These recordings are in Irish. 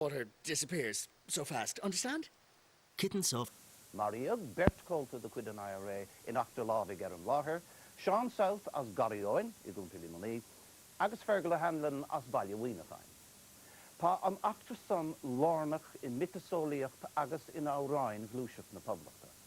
Water disappears so fast, understand? Kittens of. Maraíodh beirt chomhalta de chuid an IRA in eachtra lámhaigh ar an láthair, Seán South as Garraí Eoin i gContae Luimnigh agus Fergal O'Hanlon as Bhaile Mhuineacháin. Tá an eachtra san lárnach i miotaseolaíocht agus in amhráin Ghluaiseacht na Poblachta.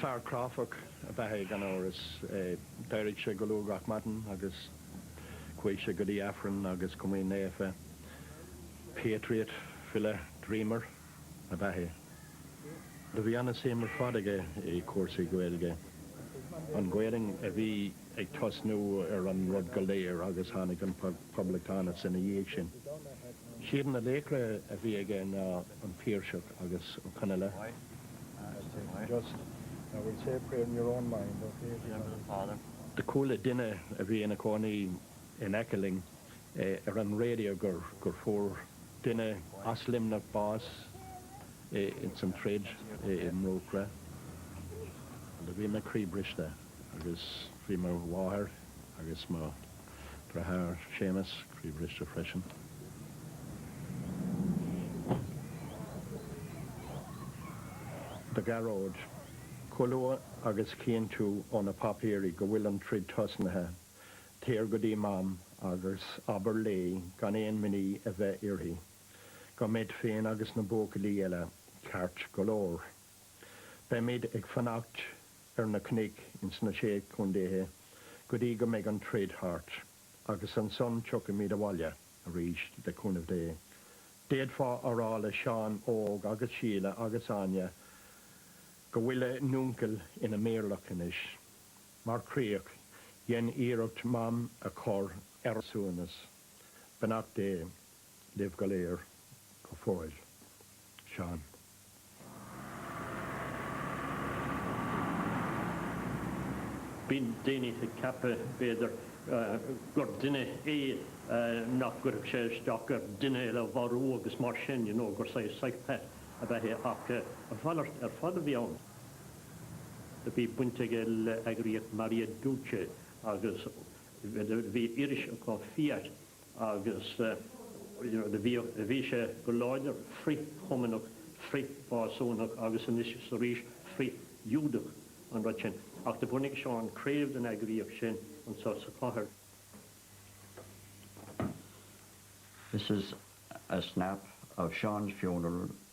Fear cráifeach ab ea é gan amhras. D'éirigh sé go luath gach maidin agus chuaigh sé go dtí Aifreann agus Comaoin Naofa. Patriot, file, dreamer. ab ea é. Do bhí an-suim ar fad aige i cúrsaí Gaeilge, an Ghaelainn a bhí ag tosnú ar an rud go léir agus tháinig an Poblachtánachas ina dhiaidh sin. Siad na laochra a bhí aige ná an Piarsach agus Ó Conaille. Do chuala duine a bhí ina cónaí in aice linn ar an raidió gur fuair duine as Luimneach bás ins an troid i mBróicre. Bhí mé croíbhriste agus bhí mo mháthair agus mo dheartháir Séamus croíbhriste freisin. Do Ghearóid, chomh luath agus chífidh tú ó na páipéirí go bhfuil an troid tosnaithe, Téir go dtí Mam agus abair léi gan aon imní a bheith uirthi, go mbead féin agus na buachaillí eile ceart go leor. Beimid ag fanacht ar na cnoic ins na Sé Chontaethe go dtí go mbeidh an troid thart, agus ansan tiocfaimid abhaile arís, le cúnamh Dé. D'fhéadfá a rá le Seán Óg agus Síle agus Áine go bhfuil a n-úncail ina méirleach anois. Mar chríoch, déan iarracht Mam a chur ar suaimhneas, beannacht Dé libh go léir go fóill. Seán. Bíonn daoine ag ceapadh, b'fhéidir, gur duine é nach gcuirfeadh sé isteach ar dhuine eile a mharú agus mar sin, you know, gur saghas psychopath a bheadh acu. A mhalairt ar fad a bhí ann. Bhí baint aige le heagraíocht Maria Duce agus bhí iris acu Fiat agus bhí sé go láidir frith-Chumannach, frith-Mhásúnach agus anois is arís frith-Ghiúdach an rud sin. Ach do bhunaigh Seán craobh den eagraíocht sin anseo sa chathair. This is a snap of Seán's funeral.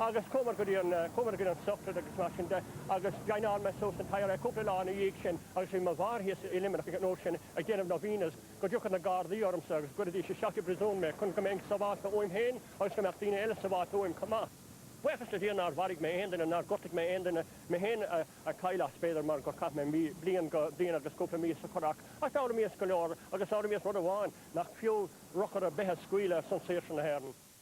agus chuamar go dtí an, chuamar go dtí an Sochraid agus mar sin de agus joineáil mé suas an IRA cúpla lá ina dhiaidh sin agus bhí mo mháthair thíos i Luimneach ansin ag déanamh novenas go dtiocfadh na gardaí ormsa agus go gcuirfidís isteach i bpríosún mé chun go mbeinn sábháilte uaim féin agus go mbeadh daoine eile sábháilte uaim chomh maith. Buíochas le Dia nár mharaigh mé aon duine, nár ghortaigh mé aon duine, mé féin a ghortaigh mé b'fhéidir mar gur chaith mé mí, bliain go, bliain agus cúpla mí sa Churrach ach d'fhoghlaim muid go leor agus d'fhoghlaim muid rud amháin, nach fiú urchar ar bith a scaoileadh ar son saoirse na hÉireann.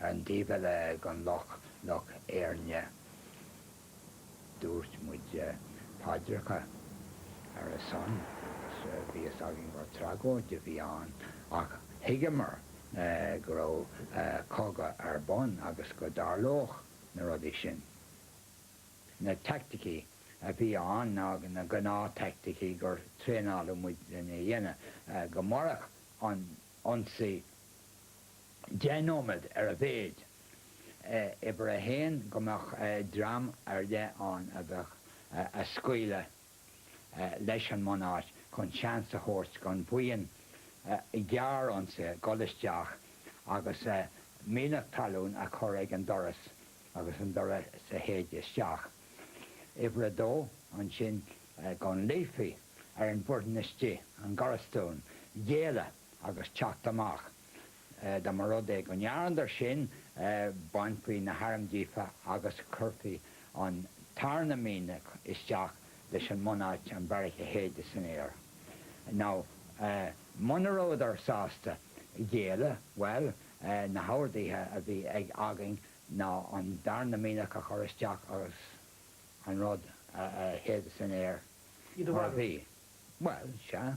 an taobh eile den loch, Loch Éirne. Dúirt muid paidreacha ar a son agus bhí fhios againn gur tragóid a bhí ann ach thuigeamar go raibh cogadh ar bun agus go dtarlódh na rudaí sin. Na teaicticí a bhí ann ná na gnáth-teaicticí gur traenáladh muid lena dhéanamh go mairfeadh an t-ionsaí deich nóiméad ar a mhéid. Uimhir a haon, go mbeadh dream ar leith ann a bheadh ag scaoileadh leis an mbunáit chun seans a thabhairt don bhuíon ghearr ionsaithe dhul isteach agus mianach talún a chur ag an doras agus an doras a shéideadh isteach. Uimhir a dó, ansin go nglaofaí ar an bhfoireann istigh, an garastún, géilleadh. agus teacht amach. Dá mba rud é go ndearnadar sin, bhainfí na hairm díobh agus chuirfí an tarna mianach isteach leis an mbunáit, an bheairic a shéideadh san aer. Nó muna rabhadar sásta géilleadh, bhuel, na horduithe a bhí ag againn ná an darna mianach a chur isteach agus an rud a shéideadh san aer mar a bhí. Bhuel, sea.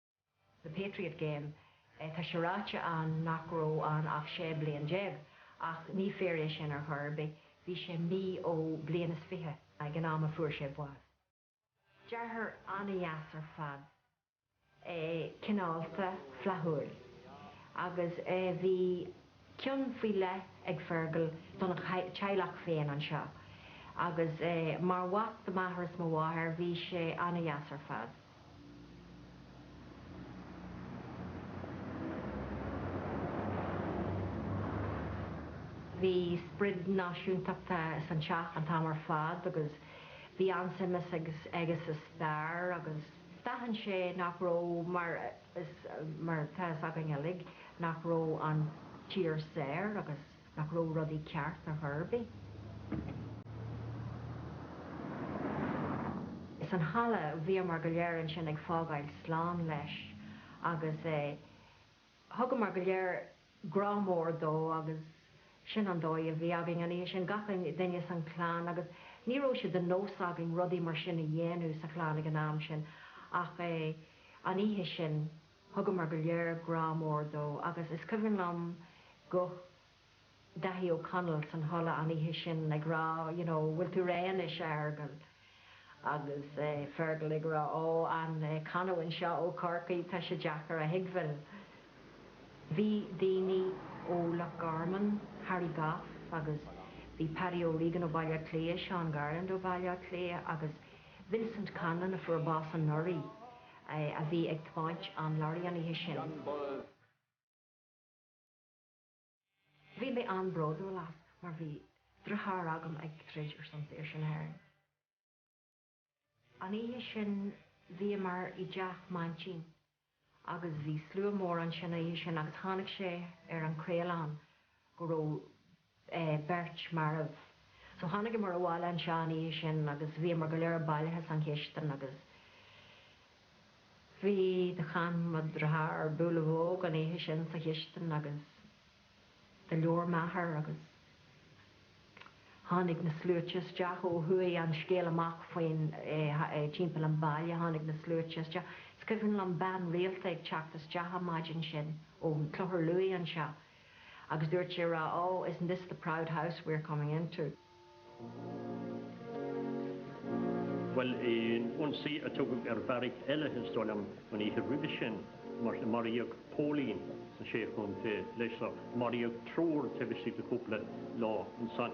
the Patriot Game, tá sé ráite ann nach raibh ann ach 16 bliain, ach ní fíor é sin ar chor ar bith, bhí sé mí ó bliain is fiche ag an am a fuair sé bás. Deartháir an-deas ar fad é, cineálta, flaithiúil, agus bhí. cion faoi leith ag Fergal don teaghlach féin anseo agus mar mhac do m'athair is mo mháthair, bhí sé an-deas ar fad. Bhí sprid náisiúntachta san teach an t-am ar fad agus bhí an-suim aige insa stair agus d'aithin sé nach raibh mar a. mar atá fhios againn uilig nach raibh an tír saor agus nach raibh rudaí ceart ar chor ar bith. Insan halla a bhíomar go léir ansin ag fágáil slán leis agus thugamar go léir grá mór dó agus sin an dóigh a bhí againn an oíche sin, gach duine san chlann agus ní raibh sé de nós againn rudaí mar sin a dhéanamh sa chlann ag an am sin ach é an oíche sin thugamar go léir grá mór dó agus is cuimhin liom guth Dáithí Ó Conaill san halla an oíche sin ag rá you know bhfuil tú réidh anois a Fheargal. Agus Fergal ag rá, Ó, an canamhain seo ó Chorcaigh, tá sé deacair a thuigbheáil. Bhí daoine ó Loch Garman, Harry Goff agus bhí Paddy O'Regan ó Bhaile Átha Cliath, Seán Garland ó Bhaile Átha Cliath agus Vincent Conlon a fuair bás anuraidh, a bhí ag tiomáint an lorry an oíche sin. Bhí mé an-bhródúil as mar bhí deartháir agam ag troid ar son saoirse na hÉireann. An oíche sin bhíomar i dteach m'aintín agus bhí slua mór ansin an oíche sin agus tháinig sé ar an chraolachán go raibh beirt marbh. So tháinigeamar abhaile anseo an oíche sin agus bhíomar go léir bailithe san chistin agus. Bhí do chan mo dheartháir Boolavogue an oíche sin sa chistin agus do labhair m'athair agus tháinig na sluaite isteach ó chuaigh an scéal amach faoin timpeall an baile, tháinig na sluaite isteach. Is cuimhin liom bean rialta ag teacht isteach an maidin sin ó Clochar Lughaidh anseo Agus dúirt sé a rá, Ó, isn't this the proud house we are coming into? Bhuel, in ionsaí a tugadh ar bheairic eile, is dóigh liom, an oíche roimhe sin, maraíodh póilín sna Sé Chontae leis seo, maraíodh triúr taobh istigh de chúpla lá ansan.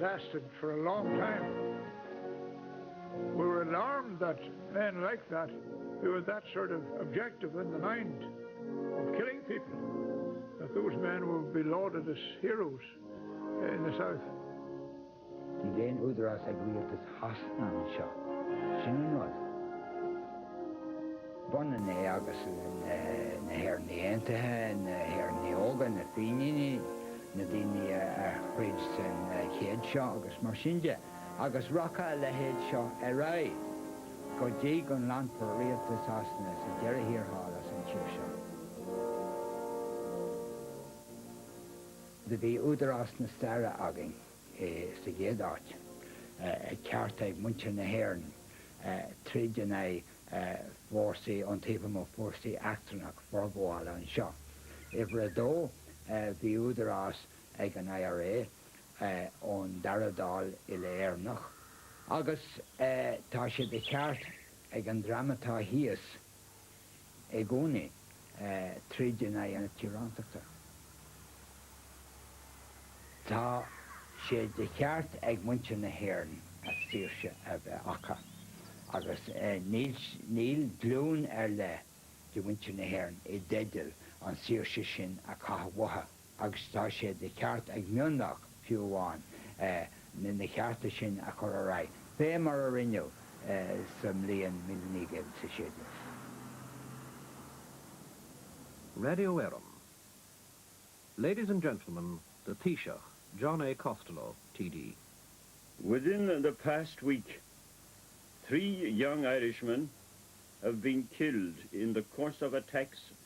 lasted for a long time. We were alarmed that men like that, who had that sort of objective in the mind of killing people, that those men would be lauded as heroes in the south. Níl aon údarás ag rialtas Shasana anseo. Sin an rud. B'ionann é agus na hÉireannaigh Aontaithe, na hÉireannaigh Óga, na Fíníní. na daoine a throid san chéad seo agus mar sin de, agus rachaidh a leithéid seo ar aghaidh go dtí go nglanfar rialtas Shasana sa deireadh thiar thall as an tír seo. Do bhí údarás na staire againn sa gcéad áit, ceart ag muintir na hÉireann troid in aghaidh fórsaí iontaofa nó fórsaí eachtrannacha forghabhála anseo. Uimhir a dó, bhí údarás ag an IRA ón Dara Dáil uile-Éireannach. Agus tá sé de cheart ag an dream atá thíos i gcónaí. troid in aghaidh na tíorántachta. Tá sé de cheart ag muintir na hÉireann a saoirse a bheith acu, agus níl glúin ar leith de mhuintir na hÉireann i dteideal an tsaoirse sin a chaitheamh uathu. agus tá sé de cheart ag mionlach, fiú amháin, na cearta sin a chur ar aghaidh, fé mar a rinneadh sa mbliain míle naoi gcéad is a sé déag. Radio Éireann. Ladies and gentlemen, the Taoiseach, John A. Costello, T.D. Within the past week, three young Irishmen have been killed in the course of attacks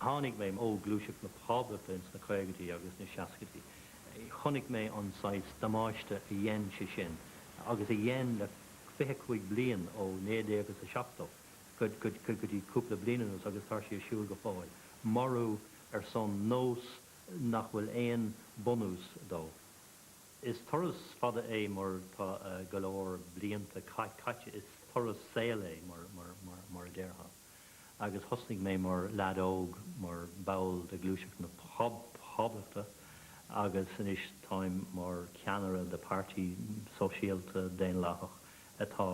Tháinig mé ó ghluaiseacht na poblachta ins na caogaidí agus na seascaidí. Chonaic mé an saghas damáiste a dhein sé sin, agus a dhein le fiche cúig bliain, ó naoi déag is a seachtó go dtí cúpla bliain anuas, agus tá sé ar siúl go fóill, marú ar son nós nach bhfuil aon bunús dó. Is turas fada é mar tá go leor blianta caite, is turas saoil é mar a déarfá. agus thosnaigh mé mar leaid óg mar ball de Ghluaiseacht na Poblachta agus anois táim mar cheannaire de páirtí sóisialta daonlathach atá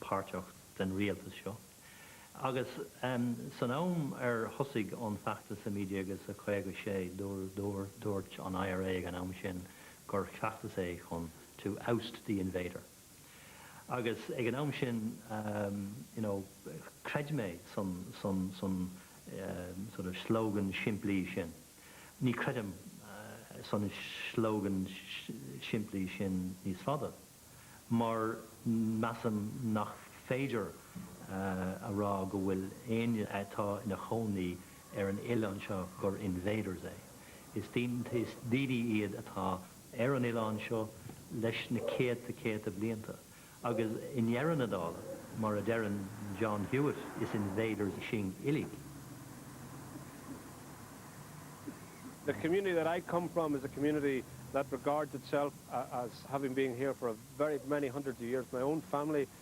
páirteach den rialtas seo. Agus san am ar thosaigh an feachtas i 1956 dúirt an IRA ag an am sin gur feachtas é chun to oust the invader. Agus ag an am sin, you know, chreid mé san san san sort of slogan simplí sin. Ní chreidim san slogan simplí sin níos fada, mar measaim nach féidir a rá go bhfuil éinne atá ina chónaí ar an oileán seo gur invader é. Is is daoine iad atá ar an oileán seo leis na céadta céadta blianta agus i ndeireadh na dála, mar a deireann John Hewitt, is invaders sinn uilig. The community that I come from is a community that regards itself as having been here for a very many hundreds of years. My own family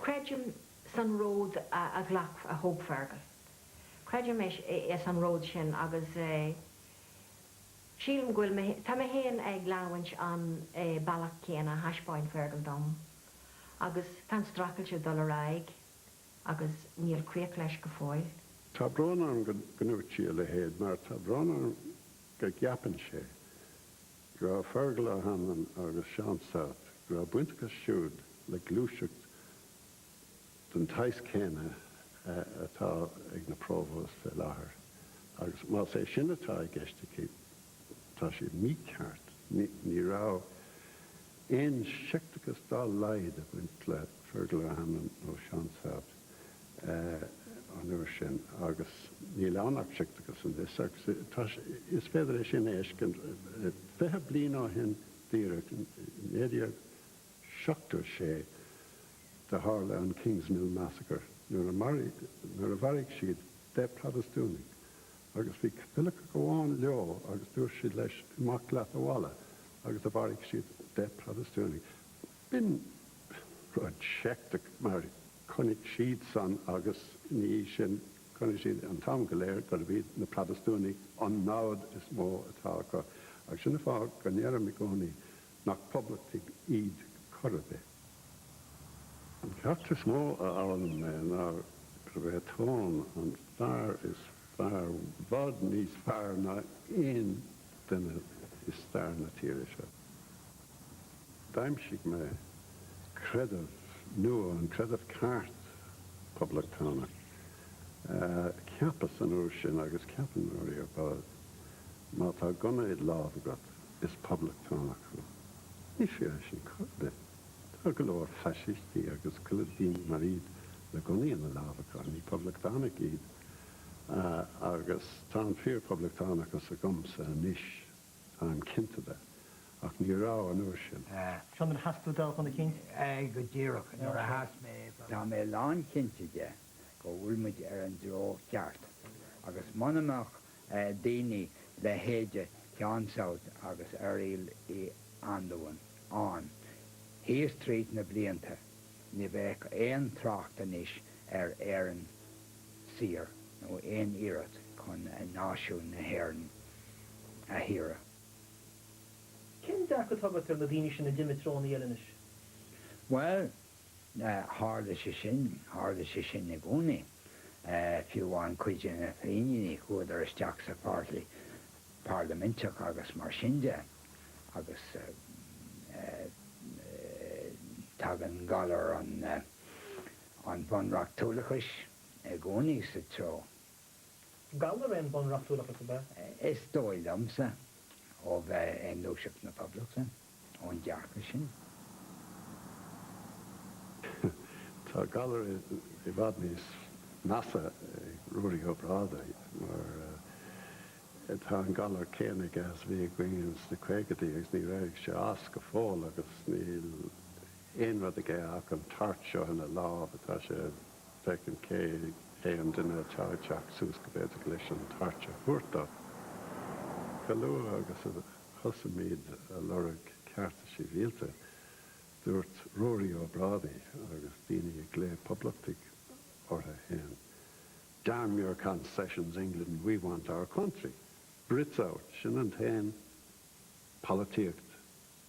Creidim san ród a ghlac, a thóg Fergal. Creidim ins an ród sin agus sílim go bhfuil mé, tá mé féin ag leanamhaint an bealach céanna a thaispeáin Fergal dom agus tá an streachailt ag dul ar aghaidh agus níl críoch leis go fóill. Tá brón orm go ndúirt sí a leithéid mar tá brón orm go gceapann sé. go raibh Fergal Ó hAnluain agus Seán South, go raibh baint acu siúd le gluaiseacht den tsaghas céanna atá ag na Provos fé láthair, agus más é sin atá i gceist aici, tá sé mícheart. Ní raibh aon seicteachas dá laghad ag baint le Fergal Ó hAnluain nó Seán South. an uair sin agus níl ann ach seicteachas anois agus is féidir é sin a fheiscint fiche bliain ó shin díreach, 1976 do tharla an Kingsmill Massacre nuair a mharaigh siad deich bProtastúnaigh agus bhí Caitiliceach amháin leo agus dúirt siad leis 'imigh leat abhaile' agus a mharaigh siad deich bProtastúnaigh. B'in rud seicteach, mar chonaic siadsan agus, ina dhiaidh sin, chonaic siad an t-am go léir gurb iad na Protastúnaigh an namhad is mó atá acu. Agus sin an fáth go ndeirim i gcónaí nach poblachtaigh iad chor ar bith. An ceacht is mó a fhoghlaim mé ná gurb é Tone an fear is fearr, i bhfad níos fearr ná aon duine i stair na tíre seo. D'aimsigh mé creideamh nua, an creideamh ceart Poblachtánach. Cheapas an uair sin, agus cheap an IRA, bhuel, má tá gunna id lámh agat, is Poblachtánach thú. Ní fíor é sin chor ar bith. Tá go leor faisistí agus tuilleadh daoine mar iad le gunnaí ina lámh acu, ní Poblachtánaigh iad. Agus tá an fíor-Poblachtánachas agamsa anois. táim cinnte de, ach ní raibh an uair sin. Seo nuair a sheas tú toghchán a chinnt. Aye, go díreach, nuair a sheas mé go. Tá mé lánchinnte de go bhfuil muid ar an dtreo ceart, agus muna mbeadh daoine leithéide Sheáin South agus Fhearghail Uí Anluain ann thíos tríd na blianta, ní bheadh aon trácht anois ar Éirinn saor nó aon iarracht chun náisiún na hÉireann a shaoradh. Cén dearcadh atá agat ar na daoine sin a d'imigh treo an Fhéile anois? Bhuel, tharla sé sin, tharla sé sin i gcónaí. Fiú amháin cuid de na Fíníní chuadar isteach sa pháirtí parlaiminteach agus mar sin de, agus tagann galar an bhunreachtúlachais i gcónaí sa treo. Galar é an bunreachtúlachas, ab ea? Is dóigh liomsa, ó bheith i nGluaiseacht na Poblachta, ón dearcadh sin. Tá galar i bhfad níos measa ag Ruairí Ó Brádaigh, mar tá an galar céanna aige is a bhí againn sna caogaidí agus níor éirigh sé as go fóill agus níl. aon rud aige ach an torch seo ina láimh atá sé ag féachaint cé hé an duine atá ag teacht suas go bhféadfadh leis an torch a thabhairt dó. Chomh luath agus a thosaíomar ag lorg cearta sibhialta, dúirt Ruairí Ó Brádaigh, agus daoine ag glaoch 'poblachtaigh' orthu fhéin, 'Damn your concessions, England, we want our country! Brits out! Sin an t-aon pholaitíocht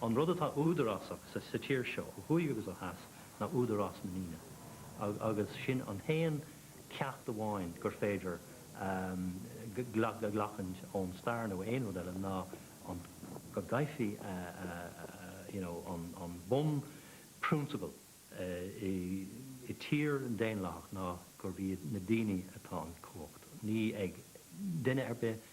An rud atá údarásach sa tír seo, ó thuaidh agus ó dheas, ná údarás na ndaoine, agus sin an t-aon cheacht amháin gur féidir a ghlachaint ón stair nó aon rud eile ná an, go gcaithfí an bunphrionsabal i dtír dhaonlathach ná gurb ag na daoine atá an cumhacht, ní ag duine ar bith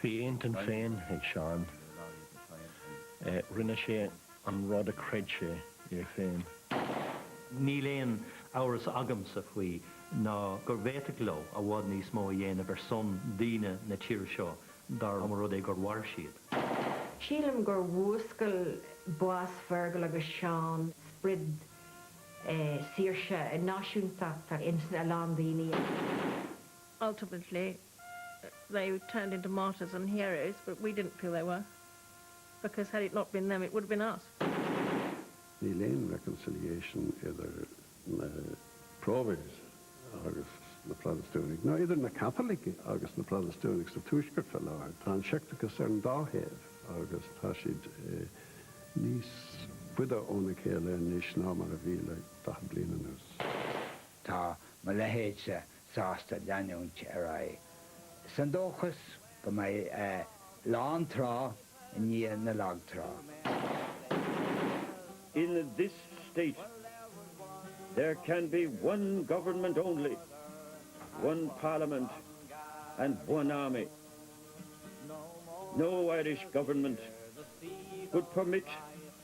Bhí a intinn féin ag Seán. Rinne sé an rud a chreid sé é féin. Níl aon amhras agamsa faoi ná go bhféadfadh leo i bhfad níos mó a dhéanamh ar son daoine na tíre seo dá mba rud é gur mhair siad. Sílim gur mhúscail bás Fergal agus Seán sprid saoirse náisiúntachta ins a lán daoine. Ultimately, they turned into martyrs and heroes but we didn't feel they were because had it not been them it would have been us. Níl aon reconciliation idir na Provos agus na Protastúnaigh, nó idir na Caitlicigh agus na Protastúnaigh sa Tuaisceart faoi láthair. Tá an seicteachas ar an dá thaobh agus tá siad níos faide óna chéile anois ná mar a bhí le daichead bliain anuas. Tá mo leithéidse sásta leanúint ar aghaidh sa ndóchas go mbeidh an lán trá i ndiaidh na lagtrá. In this state there can be one government only, one parliament and one army. No Irish government could permit.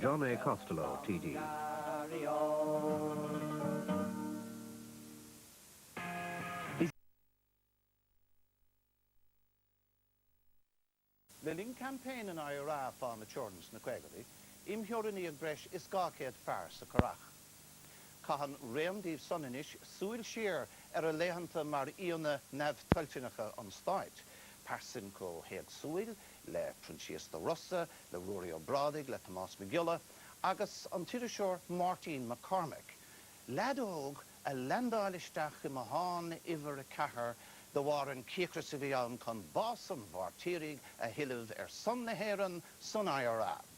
John A. Costello, T.D. Le linn campaign an IRA fán teorainn sna caogadaí, imtheorannaíodh breis is dhá chéad fear sa Currach. Caitheann roinnt díobh san anois súil siar ar a laethanta mar aíonna neamhtoilteanacha an Stáit, pearsain chomh héagsúil le Proinsias de Rossa, le Ruairí Ó Brádaigh, le Tomás Mac Giolla agus an t-iriseoir Máirtín Mac Cormaic, leaid óg a leaindeáil isteach i mbothán uimhir a ceathair de bharr an cíocras a bhí ann chun bás an mhairtírigh a thuilleamh ar son na hÉireann san IRA.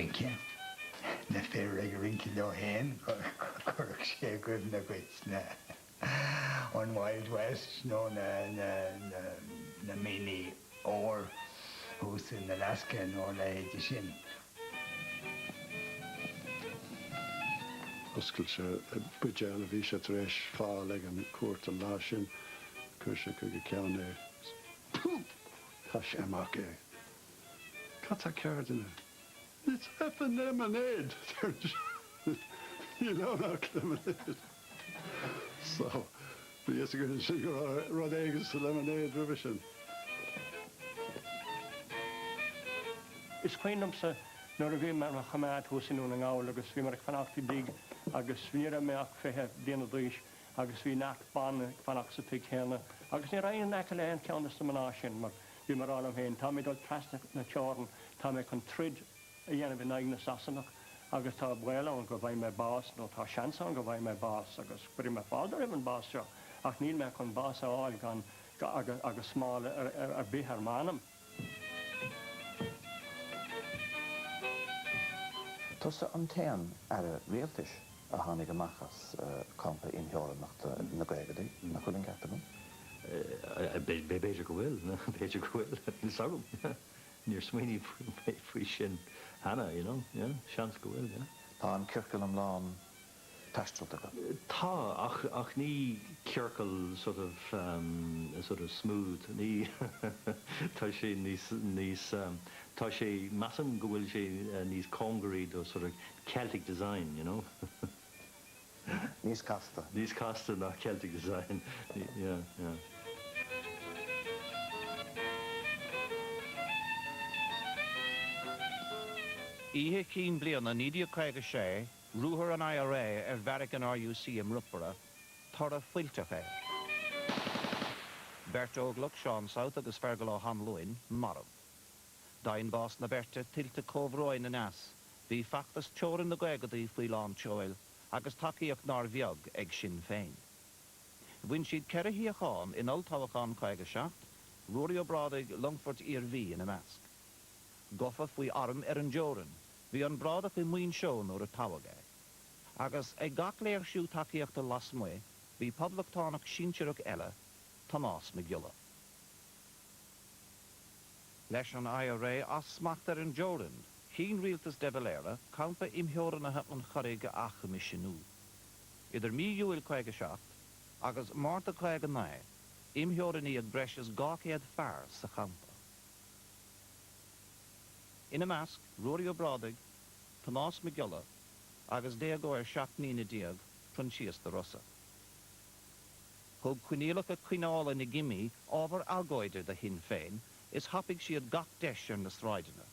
rince. Na fir ag rince leo féin, chuirfeadh sé i gcuimhne dhuit na. An Wild West nó na mianaigh óir thuas in Alaska nó a leithéide sin. D'oscail sé buidéal a bhí sé tar éis fáil ag an gcuairt an lá sin. Chuir sé chuig a cheann é agus chaith sé amach é. Cad tá cearr duine? It's effing lemonade Níl ann ach lemonade So, bhí a fhios againn ansin go raibh rud éigin sa lemonade roimhe sin. Is cuimhin liomsa nuair a bhí mé ar mo choimeád thuas i nDún na nGall agus bhí mé ag fanacht i dtigh agus ní raibh mé ach fiche bliana d'aois agus bhí neart ban ag fanacht sa tigh céanna agus ní rabhas in aice le haon cheann de na mná sin mar Bhí mé ag rá liom féin, tá mé ag dul trasna na teorann, tá mé chun troid a dhéanamh in aghaidh na Sasanach agus tá baol ann go bhfaighidh mé bás nó tá seans ann go bhfaighidh mé bás agus cuirfidh mé fáilte roimh an bhás seo ach níl mé chun bás a fháil gan agus smál ar bith ar m'anam. Tusa an t-aon aire rialtais. a tháinig amach as campa imtheorannachta na gcaogaidí, nach bhfuil an ceart agam? b'fhéidir go bhfuil, b'fhéidir go bhfuil, níl a fhios agam, níor smaoiníodh faoi sin cheana, you know, yeah, seans go bhfuil, yeah. Tá an ciorcal iomlán taistealta agat. Tá, ach ní ciorcal sort of, sort of smooth, ní, tá sé níos, níos, tá sé, measaim go bhfuil sé níos cóngaraí do sort of Celtic design, you know. Níos casta. Níos casta ná Celtic design. Yeah, yeah. Oíche Chinn Bliana 1956, ruathar an IRA ar bheairic an RUC i mBrookeborough, toradh fuilteach air. Beirt óglach, Seán South agus Fergal O'Hanlon, marbh. D'adhain bás na beirte tuilte comhbhróin aneas Bhí feachtas teorann na gcaogaidí faoi lán tseoil agus tacaíocht nár bheag ag Sinn Féin. Bhain siad ceithre shuíochán in Olltoghchán 57, Ruairí Ó Brádaigh, Longfoirt Iarmhí ina measc. Gafa faoi arm ar an dteorainn, bhí an Brádach i Muinseo nuair a toghadh é. Agus ag gach léirsiú tacaíochta lasmuigh bhí poblachtánach sinsearach eile, Tomás Mac Giolla. Leis an IRA as smacht ar an dteorainn, chinn rialtas de Valera campa imtheorannaithe an Churraigh a athchoimisiniú. Idir mí Iúil 57 agus Márta 59, imtheorannaíodh breis is 200 fear sa champa, ina measc Ruairí Ó Brádaigh, Tomás Mac Giolla agus déagóir seacht mbliana déag, Proinsias de Rossa. Thug coinníollacha coinneála na gcimí ábhar agóide do Shinn Féin is thapaigh siad gach deis ar na sráideanna.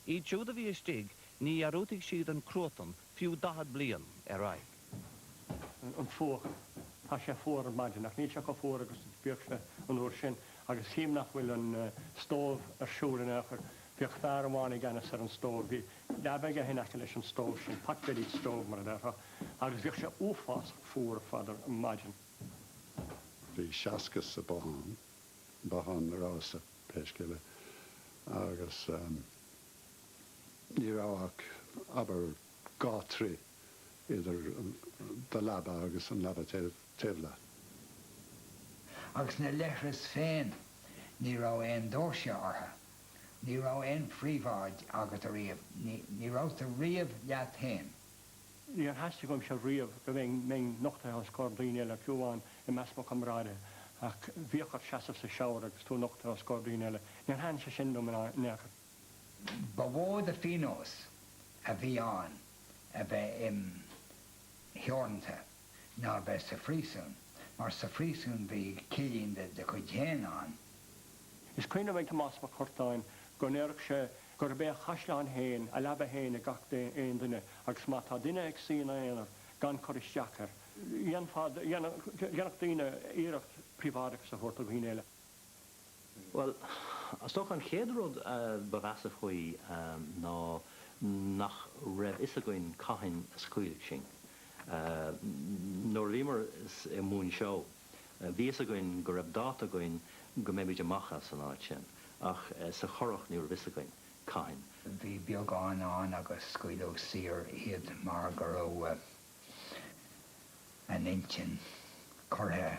Iad siúd a bhí istigh, ní dhearúdfadh siad an cruatan fiú daichead bliain ar aghaidh. an fuacht, tá sé fuar ar maidin ach níl sé chomh fuar agus a bhíodh sé an uair sin agus chím nach bhfuil an stóbh ar siúl in aon chor. Bhíodh fear amháin i gceannas ar an stóbh. Bhí. Leaba aige in aice leis an stove sin, pot-bellied stove mar a déarfá, agus bhíodh sé uafásach fuar ar fad ar maidin. Bhí seasca sa bothán, bothán a rabhas-sa, pé scéal é, agus ní raibh ach, abair, dhá throigh idir do leaba agus an leaba taobh leat. Agus na leithris féin, ní raibh aon doirse orthu. Ní raibh aon phríobháid agat ariamh, ní rabhais riamh leat fhéin. Níor theastaigh uaimse riamh go mbeinn nochtaithe os comhair daoine eile, fiú amháin i measc mo chomrádaithe, ach bhíodh ort seasamh sa shower agus tú nochtaithe os comhair daoine eile. Níor thaithin sé sin liom in aon chor. Ba mhó de phíonós a bhí ann a bheith imtheorannaithe. ná a bheith sa phríosún, mar sa phríosún bhí cillín de do chuid féin agat. Is cuimhin liom Tomás Mac Curtáin go ndéireadh sé gurb é a chaisleán féin a leaba féin ag gach aon duine agus má tá duine ag suí ina aonar gan cur isteach air, dhéanfadh daoine iarracht príobháideachas a thabhairt do dhaoine eile. Bhuel, is dócha an chéad rud a ba mheasa faoi ná nach raibh fhios againn cathain a scaoilfí sinn. Nuair a bhíomar i Muinseo, bhí fhios againn go raibh dáta againn go mbeimid amach as an áit sin, ach sa Churrach ní raibh fhios againn cathain. Bhí beagán ann agus scaoileadh saor iad mar go raibh an intinn curtha.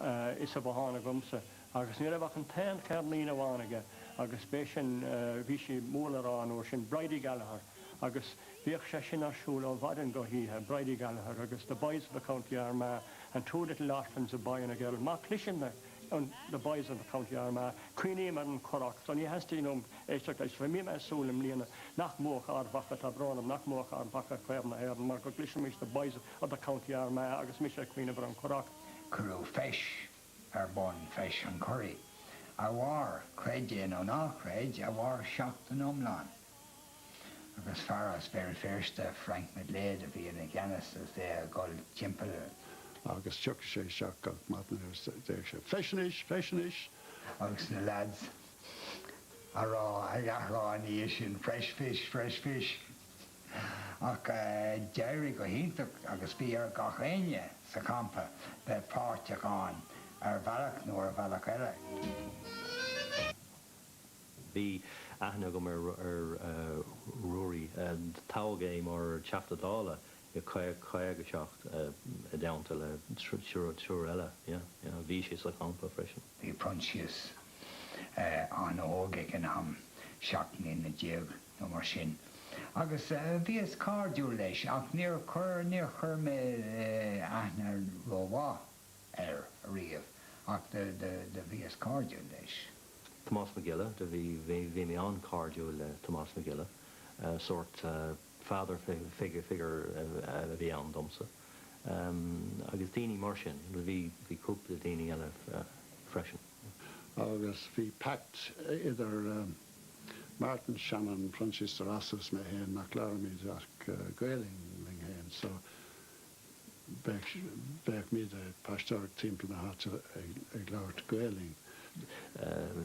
insa bhothán agamsa agus ní raibh ach an t-aon cheirnín amháin aige agus b'é sin, bhí sí mór le rá an uair sin, Bridie Gallagher agus bhíodh sé sin ar siúl ó mhaidin go hoíche, Bridie Gallagher agus The Boys from the County Armagh and Two Little Orphans, a Boy and a Girl. Má chloiseann mé The Boys from the County Armagh, cuimhním ar an Churrach so ní theastaíonn uaim éisteacht leis. Bhí mé ag súil i mbliana nach mbuafadh Ard Mhacha, tá brón orm, nach mbuafadh Ard Mhacha Craobh na hÉireann mar go gcloisfimis The Boys from the County Armagh agus mise ag cuimhneamh ar an Churrach. Cuireadh feis ar bun, Feis an Churraigh, a mhair, creid é nó ná creid, a mhair seachtain iomlán, agus fear as Béal Féirste, Frank McGlade, a bhí ina cheannas agus é ag dul timpeall. agus thiocfadh sé isteach gach maidin agus deireadh sé, Feis anois! Feis anois! agus na leaids a' rá, ag athrá ina dhiaidh sin, Fresh fish! Fresh fish! Ach d'éirigh go hiontach agus bhí ar gach éinne sa champa bheith páirteach ann ar bhealach nó ar bhealach eile. Bhí aithne agam ar Ruairí. Toghadh é mar Theachta Dála i 57, i dteannta le triúr eile. Bhí sé sa champa freisin. Bhí Proinsias an-óg ag an am, seacht mbliana déag. nó mar sin, agus bhíos cairdiúil leis, ach níor chuir, níor chuir mé aithne rómhaith air ariamh, ach do, do, do bhíos cairdiúil leis. Tomás Mac Giolla, do bhí, bhí, bhí mé an-chairdiúil le Tomás Mac Giolla, sórt father figure, figure a bhí ann domsa, agus daoine mar sin, do bhí, bhí cúpla daoine eile freisin. Agus bhí pact idir. Martin Shannon, Proinsias de Rossa is mé féin nach labhraímid ach Gaolainn linn féin so bheadh míd a' paisteoireacht timpeall na háite ag labhairt Gaolainn.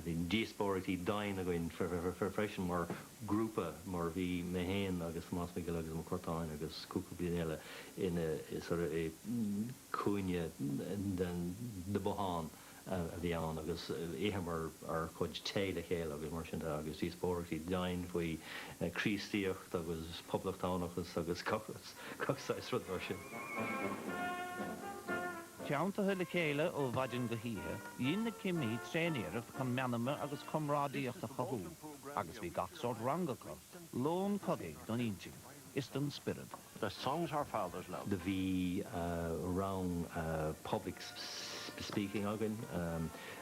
Bhí díospóireachtaí doimhin againn freisin mar ghrúpa mar bhí mé féin agus Tomás Mac Giolla agus Mac Curtáin agus cúpla daoine eile ina, sort of, i gcúinne den bothán. a bhí ann agus itheamar ár gcuid tae le chéile agus mar sin de agus díospóireachtaí doimhin faoi Chríostaíocht agus poblachtánachas agus gach saghas rud mar sin. Teanntaithe le chéile ó mhaidin go hoíche, dhein na cimí tréaniarracht chun meanma agus comrádaíocht a chothú agus bhí gach sórt ranga acu, lón cogaidh don intinn is don spiorad. The songs our fathers loved. Do bhí rang public speaking againn.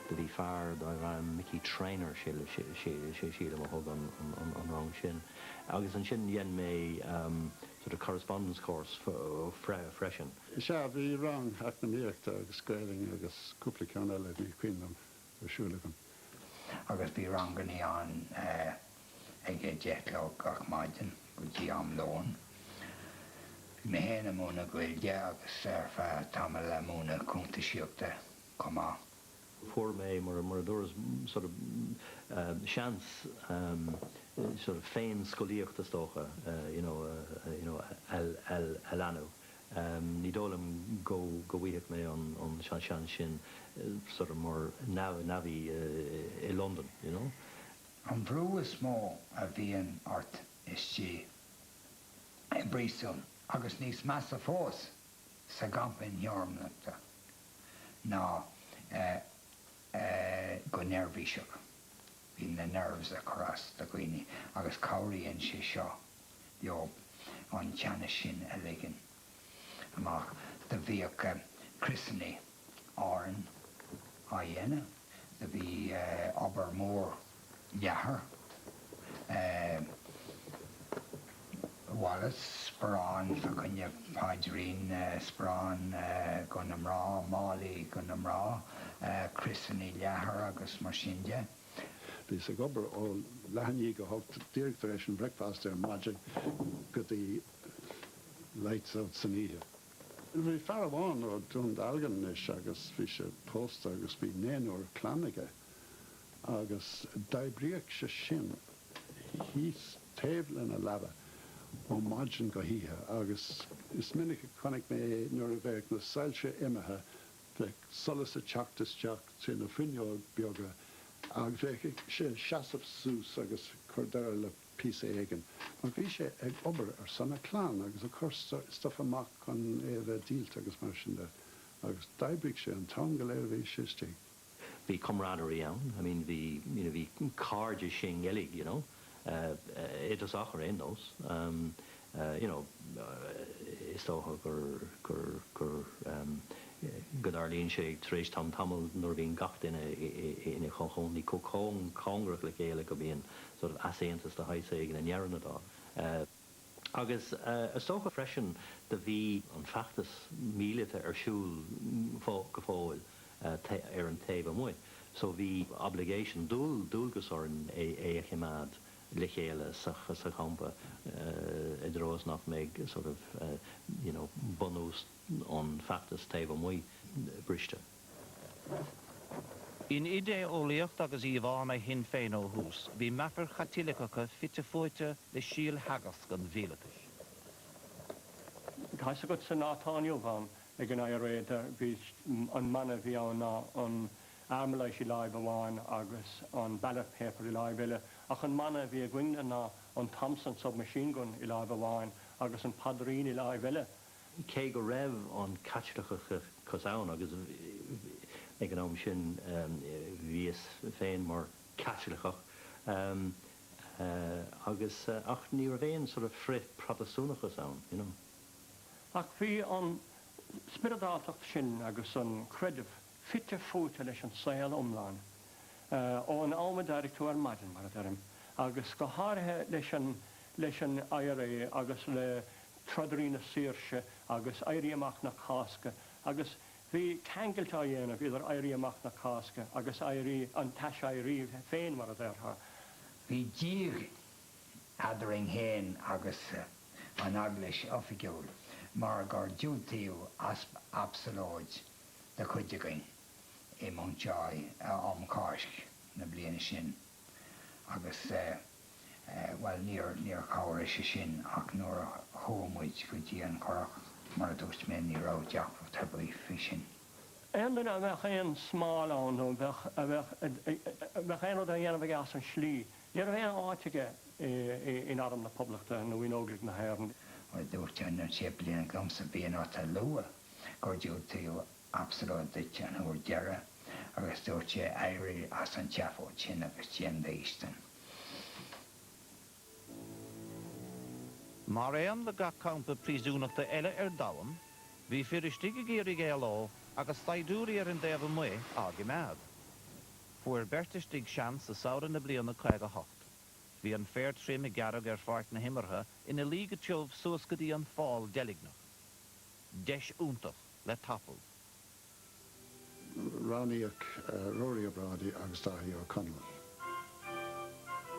Do bhí fear darbh ainm Mickey Trainor sílim a thug an rang sin agus ansin dhein mé sort of correspondence course freisin. Sea, bhí rang eacnamaíochta agus Gaolainn agus cúpla ceann eile, ní cuimhin liom. ar siúl againn. Agus bhí rangannaí ann ag a deich a chlog gach maidin go dtí am lóin. Bhí mé féin ag múineadh Gaeilge agus ar feadh tamaill ag múineadh cuntaisíochta chomh maith. Fuair mé, mar a dúras, sort of seans sort of féin-scolaíocht, is dócha, you know, a leanadh. Ní dóigh liom go bhfaigheadh mé an seans sin sort of mar navvy i Londain, you know. An brú is mó a bhíonn ort istigh i bpríosún, agus níos measa fós sa gcampa imtheorannachta, ná go neirbhíseach. Bíonn na nerves ag cur as do dhaoine agus cabhraíonn sé seo. leo an teannas sin a ligean amach do bhíodh criosanna Árann á dhéanamh, do bhí obair mhór leathair wallets, sparán fá choinne paidrín, sparán do na mná, málaí do na mná, criosanna leathair agus mar sin de. Bhíos ag obair ó leath a naoi go hocht, díreach tar éis an breakfast ar maidin go dtí lights out san oíche. Bhí fear amháin ó Dún Dealgan anois agus bhí sé pósta agus bhí naonúr clainne aige agus d'oibríodh sé sin thíos taobh lena leaba ó maidin go hoíche agus is minic a chonaic mé é nuair a bheadh na soilse imithe bheadh solas ag teacht isteach trí na fuinneoga beaga agus bheadh sé ag seasamh suas agus ag cur deireadh le píosa éigin, mar bhí sé ag obair ar son a clann agus ag cur stuif amach chun é a bheith díolta agus mar sin de, agus d'oibrigh sé an t-am go léir a bhí sé istigh. Bhí camaraderie ann, I mean bhí, you know, bhí cairdeas i nGaeilge, you know. i dtosach ar aon nós, you know. Is dócha go dtarlaíonn sé tar éis tamaill nuair a bhíonn gach duine ina chomhchónaí chomh cóngarach le chéile go mbíonn sort of easaontas de shaghas éigin i ndeireadh na dála. agus is dócha freisin do bhí an feachtas míleata ar siúl go fóill ar an taobh amuigh so bhí obligation, dualgas orainn é a choimeád le chéile sa champa i dtreo is nach mbeidh sort of, you know, bunús an feachtas taobh amuigh briste. In idé-eolaíocht agus íomhánna Shinn Féin ó thús, bhí meafair Chaitiliceacha fite fuaite le síoltheagasc an mhíleatachais. Tá's agat sa lá atá inniu ann ag an IRA, bhí an mana a bhí ann ná an Armalite i láimh amháin agus an ballot paper i láimh eile, ach an mana a bhí againne ná an Thompson submachine gun i láimh amháin agus an paidrín i láimh eile. cé go raibh an Caitliceachas ann, agus ag an am sin bhíos féin mar Chaitliceach, agus, ach ní raibh aon sort of frith-Phrotastúnachas ann, you know. Ach bhí an spioradáltacht sin agus an creideamh fite fuaite leis an saol iomlán, ón am a d'éirigh tú ar maidin, mar a deirim, agus go háirithe leis an IRA agus le trodairí na saoirse agus Éirí Amach na Cásca agus bhí ceangailt á dhéanamh idir Éirí Amach na Cásca agus éirí, an t-aiseirí féin mar a déarfá. Bhí díog eadrainn féin agus an Eaglais oifigiúil mar gur diúltaíodh absalóid de chuid againn i Mountjoy um Cháisc na bliana sin agus, bhuel, níor chabhraigh sé sin ach nuair a chuaigh muid go dtí an Currach, mar a dúirt mé, ní raibh deacracht ar bith faoi sin. Aon duine a mbeadh aon smál ann nó a bheadh aon rud á dhéanamh aige as an tslí, ní raibh aon áit aige in arm na Poblachta nó in Óglaigh na hÉireann. Bhuel, dúirt an séiplíneach liomsa, bíodh ort a lua gur diúltaíodh absalóid duit an uair deireadh agus dúirt sé, Éirigh as an tseafóid sin agus déan d'fhaoistin. Mar aon le gach campa príosúnachta eile ar domhan, bhí fir istigh ag iarraidh éaló agus saighdiúirí ar an dtaobh amuigh á gcimeád. Fuair beirt istigh seans i samhradh na bliana 58. Bhí an féar tirim gearrtha ar pháirc na himeartha, ina luí go tiubh suas go dtí an fál deilgneach. Deis iontach le tapú. Roghnaíodh Ruairí Ó Brádaigh agus Daithí Ó Conaill.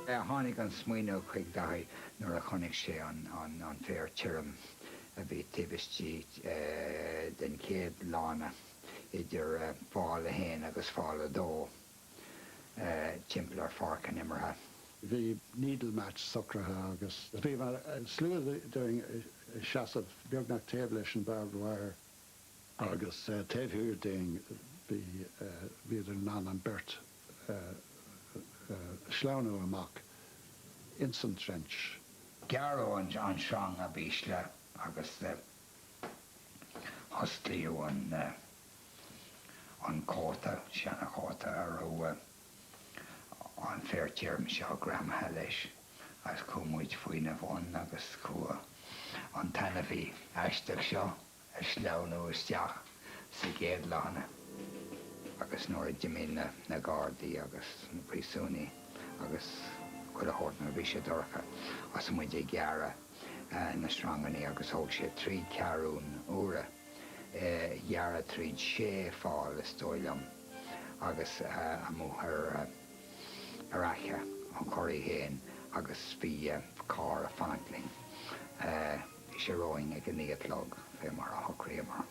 Tháinig an smaoineamh chuig Daithí nuair a chonaic sé an féar tirim a bhí taobh istigh den chéad lána idir fál a haon agus fál a dó. timpeall ar pháirc na himeartha. Bhí needle match socraithe agus bhí slua dínn ag seasamh beagnach taobh leis an barbed wire. Agus taobh thiar dínn bhíodar in ann an beirt a shleamhnú amach ins an trench. Gearradh an tsreang ab ísle agus osclaíodh an. an cóta, seanchóta a raibh an féar tirim seo greamaithe leis, agus chuaigh muid faoina bhun agus chuaigh an t-ainmhí aisteach seo ag sleamhnú isteach sa gcéad lána. Agus nuair a d'imigh na gardaí agus na príosúnaigh agus chuile shórt nuair a bhí sé dorcha, thosaigh muid ag gearradh na sreanganaí agus thóg sé trí ceathrún uaire. gearradh tríd sé fál, is dóigh liom, agus amuigh ar fhaiche an Churraigh féin agus bhí carr a' fanacht linn bhí sé romhainn ag a naoi a chlog, fé mar a shocraíomar.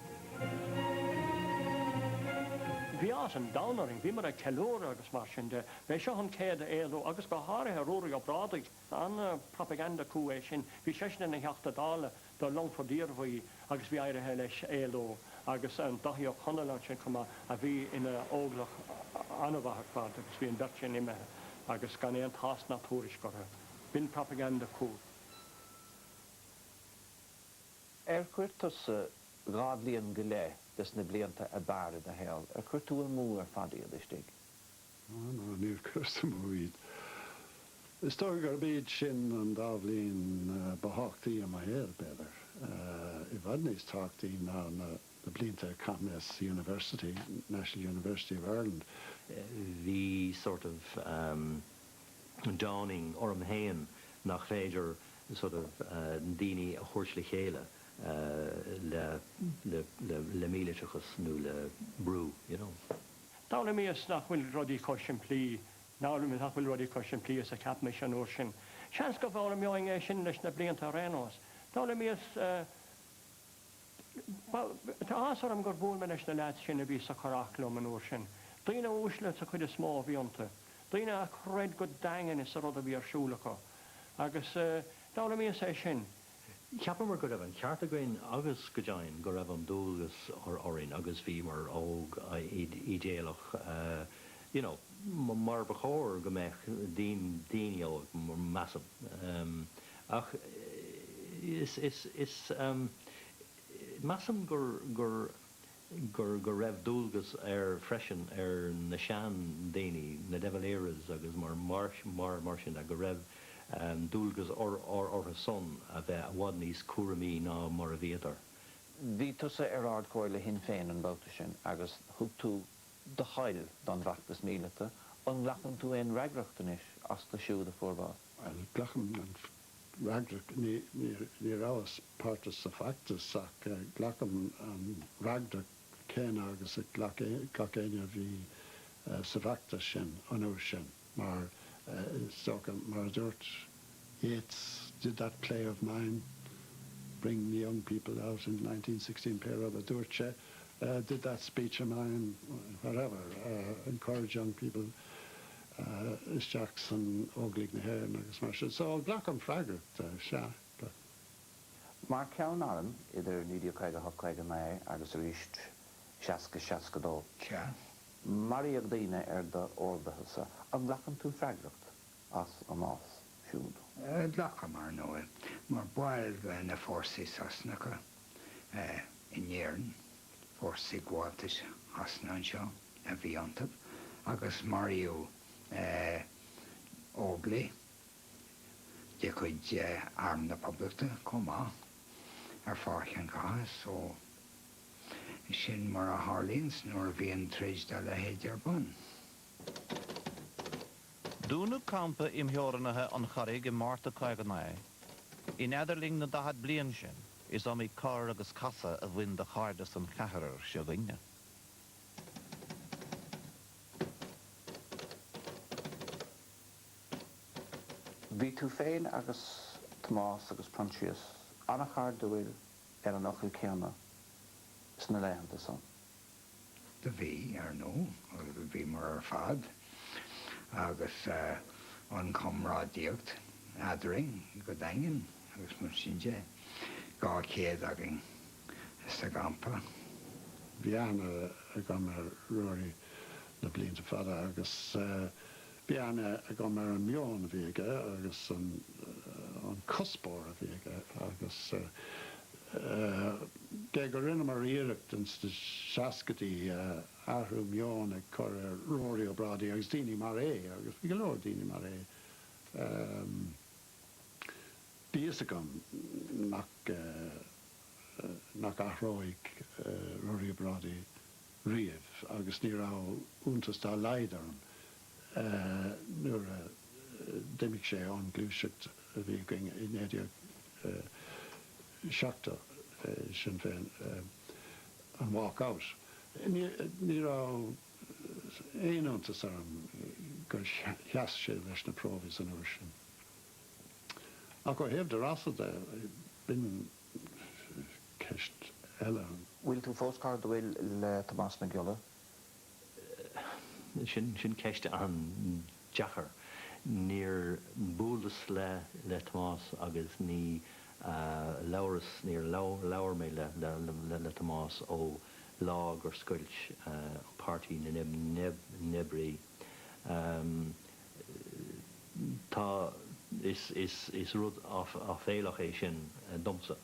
Bhí áthas an domhain orainn, bhíomar ag ceiliúradh agus mar sin de. B'é seo an chéad éalú agus go háirithe Ruairí Ó Brádaigh, an-propaganda coup é sin, bhí seisean ina Theachta Dála, do Longfort Iarmhí agus bhí éirithe leis éalú agus an Dáithí Ó Conaill ansin chomh maith a bhí ina óglach an-mhaith ar fad agus bhí an bheirt sin imithe agus gan aon tásc ná tuairisc orthu. B'in propaganda coup. Ar chuir tusa dhá bhliain go leith des na blianta ab fhearr i do shaol, ar chuir tú amú ar fad iad istigh? Á, no, níor chuireas amú iad. Is dócha gurb iad sin an dá bhliain ba thábhachtaí i mo shaol, b'fhéidir. I bhfad níos tábhachtaí ná na blianta a chaith mé sa University, National University of Ireland. Bhí sort of dawning orm fhéin nach féidir sort of daoine a thabhairt le chéile le míliteachas nó le brú, you know. D'fhoghlaimíos nach bhfuil rudaí chomh simplí, nach bhfuil rudaí chomh simplí is a cheap mise an uair sin. Seans go bhfoghlaimeoinn é sin leis na blianta ar aon nós. D'fhoghlaimíos, tá áthas orm gur bhuail mé leis na leaids sin a bhí sa Churach liom an uair sin. Daoine uaisle sa chuid is mó a bhí iontu. Daoine a chreid go daingean sa rud a bhí ar siúl acu. Agus d'fhoghlaimíos é sin. Cheapamar go raibh an ceart againn agus, go deimhin, go raibh an dualgas orainn agus bhíomar óg, ídéalach, you know, mar ba chóir go mbeadh, daoine óg, measaim. Ach is, is, is, measaim gur, gur. go raibh dualgas ar, freisin ar na seandaoine, na De Valeras agus mar sin de, go raibh dualgas orthusan a bheith i bhfad níos cúramaí ná mar a bhíodar. Bhí tusa ar Ard-Chomhairle Shinn Féin an babhta sin agus thug tú do thoil don bhfeachtas míleata, an nglacann tú aon fhreagracht anois astu siúd a fuair bás? Bhuel, glacaim an fhreagracht, ní rabhas páirteach sa bhfeachtas, ach glacaim an fhreagracht chéanna agus a ghlac éinne a bhí sa bhfeachtas sin an uair sin, mar is dócha, mar a dúirt Yeats, did that play of mine bring the young people out in nineteen sixteen, pé rud a dúirt sé, did that speech of mine, whatever, encourage young people, isteach san Óglaigh na hÉireann agus mar sin. So glacaim freagracht, sea, go. Mar cheann airm idir 1958 59 agus arís 60 62. Sea. Maraíodh daoine ar do orduithe-sa. An nglacann tú freagracht as a mbás siúd? Glacaim, ar ndóigh, mar baill de na fórsaí Sasanacha. in Éirinn. Fórsaí gabháltais Shasana anseo a bhí iontu, agus maraíodh óglaigh de chuid Arm na Poblachta chomh maith ar pháirc an chatha, so. Sin mar a tharlaíonns nuair a bhíonn troid dá leithéid ar bun. Dúnadh campa imtheorannaithe an Churraigh i Márta 59. In idirlinn na daichead bliain sin, is iomaí cor agus casadh a bhain do chairdeas an cheathrair s'againne. Bhí tú féin agus Tomás agus Proinsias an-chairdiúil ar an fhocal céanna sna laethanta san. Do bhí, ar ndú, agus bhíomar ar fad, agus an comrádaíocht eadrainn go daingean, agus mar sin de, dhá chéad againn sa gcampa. Bhí aithne agam ar Ruairí na blianta fada agus. bhí aithne agam ar an meon a bhí aige agus an cuspóir a bhí aige agus gé go rinneamar iarracht ins na seascaidí athrú meoin a chur ar Ruairí Ó Brádaigh agus daoine mar é agus bhí go leor daoine mar é bhí fhios agam nach nach athródh Ruairí Ó Brádaigh riamh agus ní raibh iontas dá laghad orm nuair a d'imigh sé ón ngluaiseacht a bhí againn i 1970, Sinn Féin, an 'walk out'. Ní raibh aon iontas orm gur sheas sé leis na Provies an uair sin. Ach ó thaobh De Rossa de, b'in. ceist eile. Bhfuil tú fós cairdiúil le Tomás Mac Giolla. Sin ceist an-deacair. Níor bhuaileas le Tomás agus ní labhras, níor labhair mé le Tomás ó lá gur scoilt Páirtí na nOibrí. Tá, is, is, is rud áiféalach é sin domsa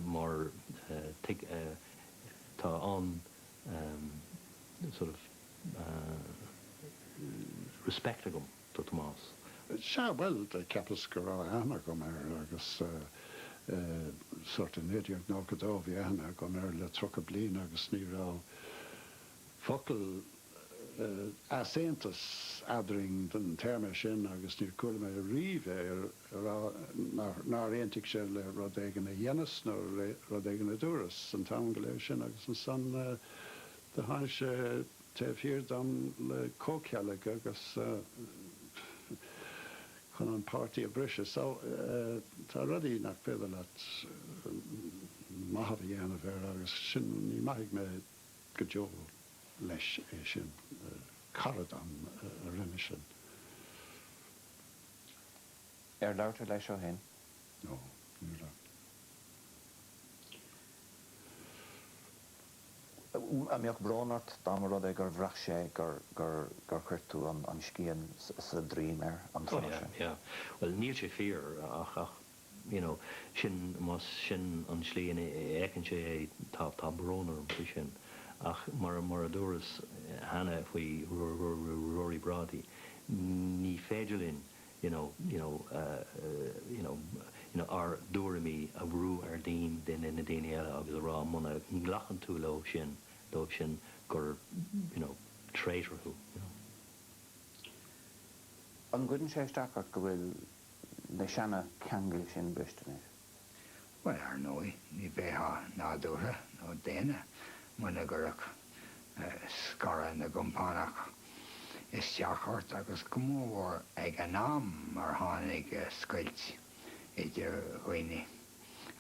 mar tuig, tá an-sort of respect agam do Thomás. Sea, bhuel, cheapas go raibh aithne agam air agus sort of 1992, bhí aithne agam air le tríocha bliain agus ní raibh, focal easaontais eadrainn don téarma sin agus níor chuala mé riamh é a rá nár aontaigh sé le rud éigin a dheineas nó le rud éigin a dúras an t-am go léir san agus ansan do tháinig sé taobh thiar dom le comhcheilg agus chun an páirtí a bhriseadh so tá rudaí nach féidir leat maitheamh a dhéanamh air agus sin ní maithfidh mé. go deo leis é sin, cara dom a rinne sin. Ar labhair tú leis ó shin? No, ní raibh. An mbeadh brón ort dá mba rud é gur bhraith sé gur chuir tú an scian sa droim air an tráth sin? Ó yeah, yeah. Bhuel níl sé fíor ach. you know, sin, más sin an tslí ina fheiceann sé é, tá, tá brón orm faoi sin. Ach mar, mar a dúras cheana faoi Ruairí Ó Brádaigh, ní féidir linn, you know, you know, you know, you know, ár dtuairimí a bhrú ar daoin, na, na daoine eile agus a rá muna nglacann tú leo sin, leo sin gur, you know, traitor thú, you know. An gcuireann sé isteach ort go bhfuil. na seana-cheangail sin briste anois. Bhuel, ar ndóigh, ní bheifeá nádúrtha nó daonna muna gcuirfeadh scaradh na gcompánach isteach ort, agus go mór mhór ag an am mar tháinig scoilt idir dhaoine.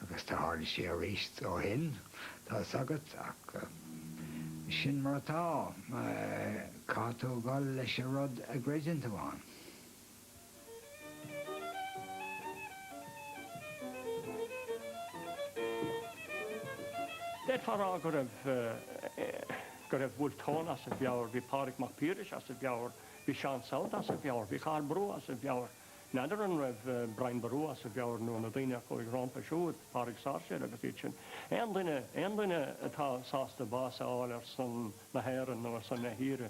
Agus do tharla sé aríst ó shin, tá's agat, ach sin mar atá, caithfidh tú gabháil leis a' rud a gcreideann tú ann. D'fhéadfá a rá go raibh go raibh Wolfe Tone as a mheabhair, bhí Pádraig Mac Piarais as a mheabhair, bhí Seán South as a mheabhair, bhí Cathal Brugha as a mheabhair. N'fheadar an raibh Brian Boru as a mheabhair nó na daoine a chuaigh rompu siúd, Pádraig Sáirséal agus iad sin. Aon duine, aon duine atá sásta bás a fháil ar son na hÉireann nó ar son na tíre,